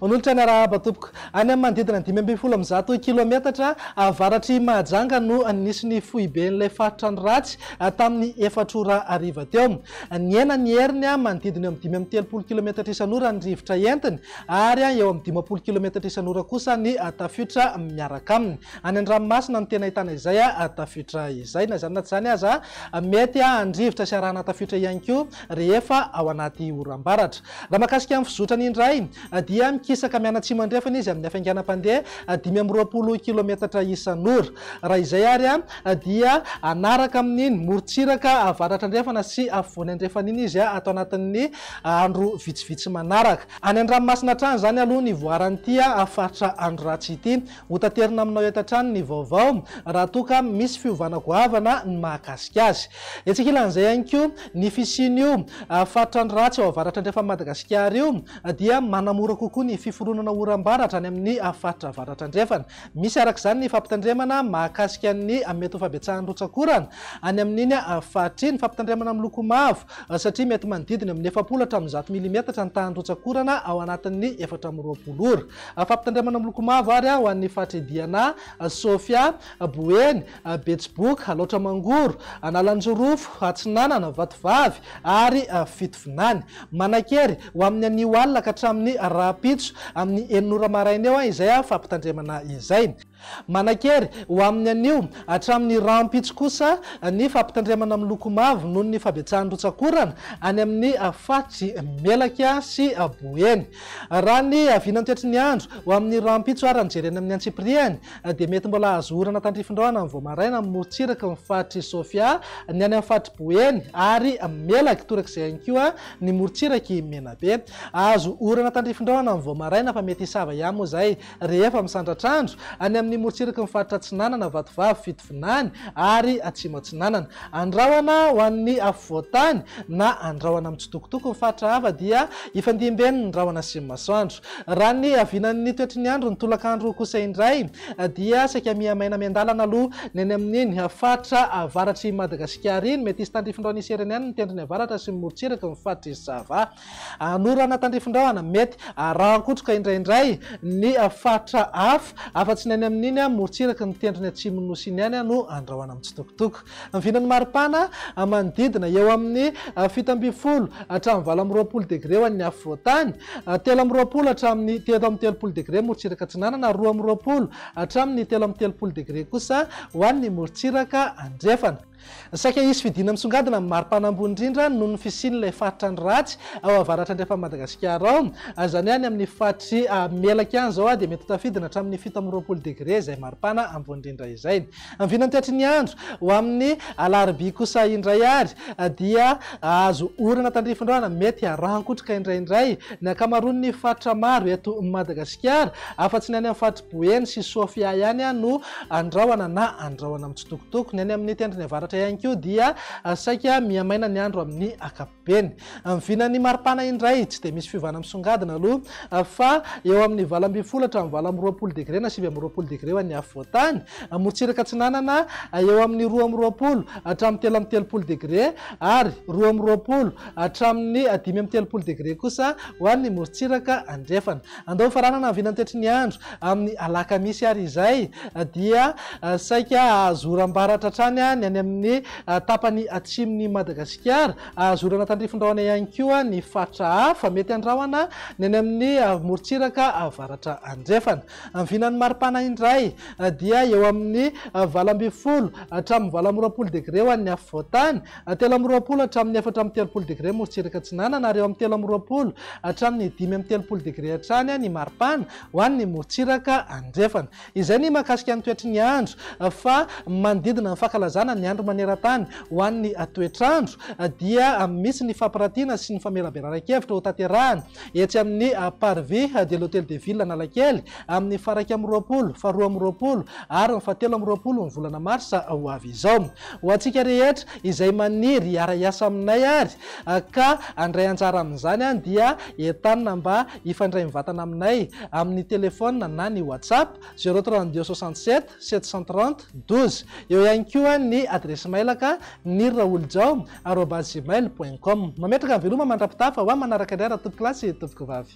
Manolotra ny arahaba tompoko. Any amin'ny manodidina ny dimy ambin'ny folo amin'ny zato kilaometatra avaratr'i Mahajanga no nisy ny foiben'ilay faritra ny ratsy tamin'ny efatra ora hariva teo. Nihena ny heriny manodidina eo amin'ny dimy amby telopolo kilaometatra isan'ora ny rivotra entiny. ary eo amin'ny dimampolo kilometatra isan'ora kosa ny tafiotra miaraka aminy. Any an-dranomasina no tena ahitana izay tafiotra izay. Na izany na tsy izany aza, mety handrivotra sy harahana tafiotra ihany koa rehefa ao anaty oram-baratra. Raha mahakasika ny fizotrany indray, dia mikisaka mianatsimo andrefana izy amin'ny hafainganam-pandeha dimy amby roapolo kilometatra isan'ora. Raha izay àry, dia hanaraka amin'iny morontsiraka avaratra andrefana sy afovoany andrefana iny izy ato anatin'ny andro vitsivitsy manaraka. Any an-dranomasina hatrany izany aloha ny voaran'ity faritra andro ratsy ity. Hotaterina aminao eto hatrany ny vaovao raha toa ka misy fiovana goavana ny mahakasika azy. Etsy ankilan'izay ihany koa, ny fisian'io faritra andro ratsy ao avaratra andrefan'i Madagasikara io dia manamora kokoa ny fiforonana oram-baratra any amin'ny faritra avaratra andrefana. Misy araka izany ny fampitandremana mahakasika ny mety ho fabetsahan'ny rotsak'orana any amin'iny faritra iny. Fampitandremana miloko mavo satria mety manodidina amin'ny efapolo hatramin'ny zato milimetatra ny tahan'ny rotsak'orana ao anatin'ny efatra amby roapolo ora. Fampitandremana miloko mavo àry ho an'ny faritr'i Diana, Sofia, Boeny, Betsiboka, Alaotra-Mangoro, Analanjirofo, Atsinanana, Vatovavy ary Fitovinany. Manankery ho amin'ny anio alina ka hatramin'ny rahampitso amin'ny enina ora maraina eo izay fampitandremana izay. Manankery ho amin'ny anio hatramin'ny rahampitso kosa ny fampitandremana miloko mavo noho ny fabetsahan'ny rotsak'orana any amin'ny faritry Melaky sy Boeny. Raha ny vinantoetry ny andro ho amin'ny rahampitso ary ny jerena amin'ny antsipirihany dia mety mbola azo orana tandrifin-drano amin'ny vao maraina amin'ny morontsiraky ny faritr'i Sofia, ny any amin'ny faritr'i Boeny ary Melaky torak'izay ihany koa ny morontsirak'i Menabe. Azo orana tandrifin-drano amin'ny vao maraina fa mety hisava ihany moa izay rehefa misandratr'andro any amin'ny morontsiraky ny faritra Atsinanana, Vatovavy, Fitovinany ary Atsimo Atsinanana. Andrahona ho an'ny afovoan-tany na andrahona mitsitokotoko ny faritra hafa dia ifandimbieny ny rahona sy ny masoandro. Raha ny havinan'ny toetry ny andro ny tolakandro kosa indray dia saika mihamaina miandalana aloha ny any amin'iny faritra avaratr'i Madagasikara iny. Mety hisy tandrifindrao ny hisereny any ny tendrony avaratra sy ny morotsiraky ny faritr'i Sava. Hanorana tandrifindrahona mety harahan-kotroka indraindray ny faritra hafa afa-tsy ny any amin'iny morotsiraky ny tendrony atsimon'ny Nosy iny ihany no andrahona mitsitokotoko. Ny vinan'ny maripana manodidina eo amin'ny fito ambin'ny folo hatramin'ny valo amby roapolo degre ho an'ny afovoantany, telo amby roapolo hatramin'ny telo amby telopolo degre morontsiraka atsinanana ary roa amby roapolo hatramin'ny telo amby telopolo degre kosa ho an'ny morontsiraka andrefana. Saika hisy fidina misongadina amin'ny maripana ambony indrindra noho ny fisian'ilay faritra ny ratsy ao avaratra andrefan'i Madagasikara ao, izany hoe any amin'ny faritry Melaky any izao dia mety ho tafidina hatramin'ny fito amby roapolo degre izay maripana ambony indrindra izay. Vinanty hatry ny andro, ho amin'ny alarobia kosa indray ary dia hahazo orana tandrifin-drano mety harangotroka indraindray ny ankamaroan'ny faritra maro eto Madagasikara, afa-tsy ny any amin'ny faritr'i Boeny sy Sofia ihany no andrahona na andrahona mitsitokotoko. Ny any amin'ny tendrony avaratra ihany koa dia saika mihamaina ny andro amin'ny ankapobeny. Ben. Amin'ny vinan'ny maripana indray, tsy dia misy fiovana misongadina aloha fa eo amin'ny valo ambin'ny folo hatramin'ny valo amby roapolo degre na sivy amby roapolo degre ho an'ny afovoantany. Morontsiraka atsinanana, eo amin'ny roa amby roapolo hatramin'ny telo amby telopolo degre ary roa amby roapolo hatramin'ny dimy amby telopolo degre kosa ho an'ny morontsiraka andrefana. Andao hofaranana ny vinantetry ny andro amin'ny alakamisy ary izay dia saika hahazo oram-baratra hatrany ny any amin'ny tapany atsimon'i Madagasikara. Hahazo orana tandrifin-drahona ihany koa ny faritra hafa mety handrahona ny any amin'ny morontsiraka avaratra andrefana. Ny vinan'ny maripana indray dia eo amin'ny valo ambin'ny folo hatramin'ny valo amby roapolo degre ho an'ny afovoan-tany Telo amby roapolo hatramin'ny efatra amby telopolo degre morotsiraka atsinanana ary eo amin'ny telo amby roapolo hatramin'ny dimy amby telopolo degre hatrany ny maripana ho an'ny morotsiraka andrefana. Izay ny mahakasika ny toetry ny andro fa manodidina ny fankalazana ny andro maneran-tany ho an'ny toetr'andro dia misy ny fampirantiana sy ny famelabelaran-kevitra hotanterahina etsy amin'ny Parvis de l'Hôtel de Ville Analakely amin'ny faharaika amby roapolo, faharoa amby roapolo ary ny fahatelo amby roapolo ny volana marsa ho avy izao. Ho antsika rehetra izay maniry hiara-hiasa aminay ary ka handray anjara amin'izany dia entanina mba hifandray mivatana aminay amin'ny telefaonina na ny WhatsApp, zéro trente deux soixante sept sept cent trente douze. Eo ihany koa ny adiresy mailaka, niraolijao arobase gmail point com. Mametraka veloma mandra-pitafa ho ahy manaraka indray raha tompokolahy sy tompokovavy.